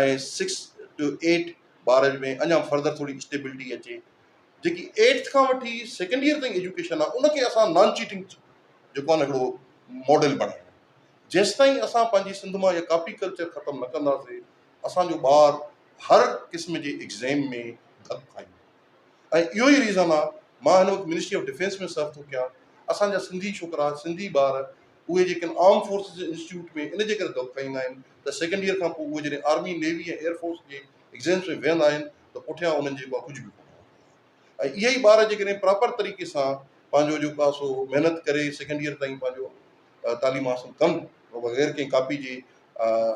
۽ Six to eight ٻارن ۾ اڃان further ٿوري اسٽيبلٽي اچي جيڪي ايٽٿ کان وٺي سيڪنڊ ايئر تائين ايجوڪيشن آ ان کي اسان نان چيٽنگ جيڪو آ نه هڪڙو ماڊل بڻائي جيستائين اسان پنهنجي سنڌ مان اها ڪاپي ڪلچر ختم نه ڪنداسي اسان جو ٻار هر قسم جي ايگزيم ۾ ڌڪ کائيندو. ۽ اهو ئي ريزن آ مان هن وقت منسٽري آف ڊفينس ۾ سرو ٿو ڪيان اسان جا سنڌي ڇوڪرا سنڌي ٻار اهي جيڪن آرم فورسز جي انسٽيٽيوٽ ۾ ان جي ڪري دؤ کائيندا آهن ته سيڪنڊ ييئر کان پوء اهي جڏهن آرمي نيوي ۽ ايئر فورس جي ايگزيمز ۾ ويهندا آهن ته پٺيان انهن جي اها ڪجهه به ڪونه هوندي آهي ۽ اهي ئي ٻار جيڪڏهن پراپر طريقي سان پنهنجو جيڪو آ سو محنت ڪري سيڪنڊ ييئر تائين پنهنجو تعليم حاصل ڪن بغير ڪنهن ڪاپي جي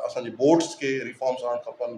اسان جي بورڊز کي ريفارمز آڻڻ کپن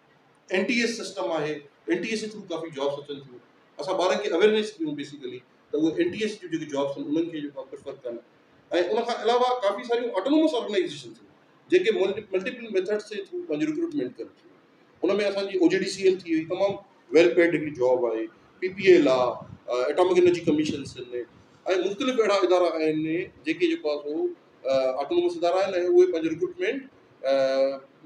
اين ٽي ايس سسٽم آهي اين ٽي ايس ٿرو ڪافي جابس اچن ٿيون اسان ٻارن کي اويئرنيس ڏيون بيسيڪلي ته اهي اين ٽي ايس جون جيڪي جابس آهن انهن کي جيڪو پريفر ڪن ۽ ان کان علاوه ڪافي ساريون آٽونومس آرگنائزيشن ٿيون جيڪي ملٽيپل ميٿڊس جي ٿرو پنهنجي رڪروٽمينٽ ڪن ٿيون ان ۾ اسانجي O G D C L ٿي وئي تمام ويل پيڊ هڪڙي جاب آهي پي پي ايل آهي ايٽامڪ انرجي ڪميشنس آهن ۽ مختلف اهڙا ادارا آهن جيڪي جيڪو آهي سو آٽونومس ادارا آهن ۽ اهي پنهنجي رڪروٽمينٽ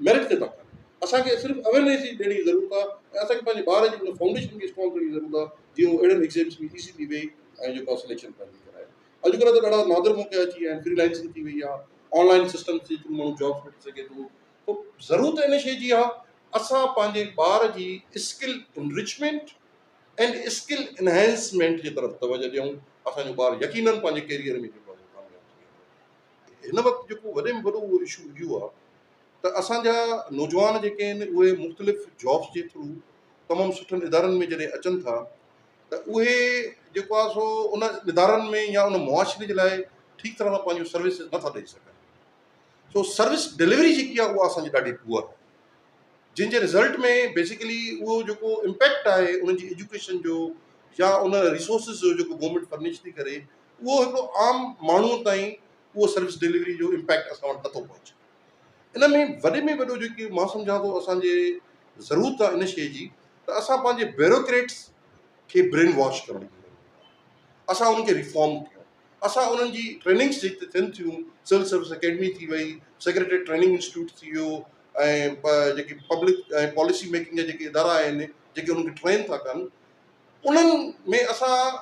ميرٽ تي ٿا ڪن اسان کي صرف اويرنيس جي ڏيڻ جي ضرورت آ ۽ اسان کي پنهنجي ٻار جي ان فائونڊيشن کي اسٽرانگ ڪرڻ جي ضرورت آ جيئن هو اهڙن ايگزيمز ۾ ايزيلي ويهي ۽ جيڪو آ سليڪشن پنهنجي ڪرائي اڄڪلهه ته ڏاڍا نادر موقعا اچي ويا آهن فريلانسنگ ٿي وئي آ آنلائن سسٽم جي ٿرو ماڻهو جابس وٺي سگهي ٿو تو ضرورت ان شي جي آ اسان پنهنجي ٻار جي skill enrichment and skill enhancement جي طرف توجهه ڏيون اسان جو ٻار يقينن پنهنجي ڪيريئر ۾ جيڪو آ هن وقت جيڪو وڏي ۾ وڏو اهو اشو اهو آهي ته اسان جا نوجوان جيڪي آهن اهي مختلف جابس جي ٿرو تمام سٺن ادارن ۾ جڏهن اچن ٿا ته اهي جيڪو آهي سو ان ادارن ۾ يا ان معاشري جي لاء ٺيڪ طرح سان پنهنجو سروس نٿا ڏئي سگهن سو سروس ڊليوري جيڪي آهي اها اسان جي ڏاڍي پوء آهي جن جي رزلٽ ۾ بيسيڪلي اهو جيڪو امپيڪٽ آهي ان جي ايجوڪيشن جو يا ان ريسورسز جو جيڪو گورمنٽ فرنش ٿي ڪري اهو هڪڙو عام ماڻهو تائين اهو سروس ڊليوري جو امپيڪٽ اسان وٽ نٿو پهچي ان ۾ وڏي ۾ وڏو جيڪي مان سمجهان ٿو اسان جي ضرورت آ ان شئي جي ته اسان پنهنجي بيروڪريٽس کي برين واش ڪرڻ جي ضرورت آ اسان انهن کي ريفارم ڪيون اسان انهن جي ٽريننگس جيڪي ٿين ٿيون سول سروس اڪيڊمي ٿي وئي سيڪريٽريٽ ٽريننگ انسٽيٽيوٽ ٿي ويو ۽ پ جيڪي پبلڪ ۽ پاليسي ميڪنگ جا جيڪي ادارا آهن جيڪي انهن کي ٽرين ٿا ڪن انهن ۾ اسان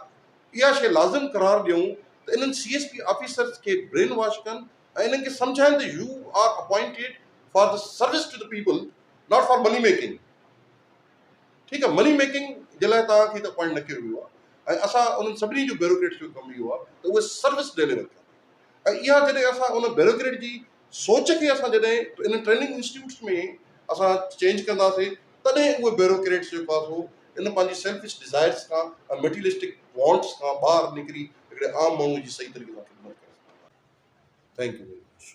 اها شيء لازم قرار ڏيون ته انهن سي ايس پي آفيسرز کي برين واش ڪن ۽ انهن کي سمجهائين ته you are appointed for the service to the people not for money making ٺيڪ آهي مني ميڪنگ جي لاء توهان کي ته اپوائنٽ نه ڪيو ويو آهي ۽ اسان انهن سڀني جو بيروڪريٽس جو ڪم اهو آهي ته اهي سروس ڊيليور ڪن ۽ اها جڏهن اسان ان بيروڪريٽ جي سوچ کي اسان جڏهن انهن ٽريننگ انسٽيٽيوٽس ۾ اسان چينج ڪنداسين تڏهن اهي بيوروڪريٽس جو پاسو ان پنهنجي سيلفش ڊزائرس کان ۽ ميٽيلسٽڪ وانٽس کان ٻاهر نڪري هڪڙي عام ماڻهو جي صحيح طريقي سان خدمت ڪري سگهندا. Thank you very much.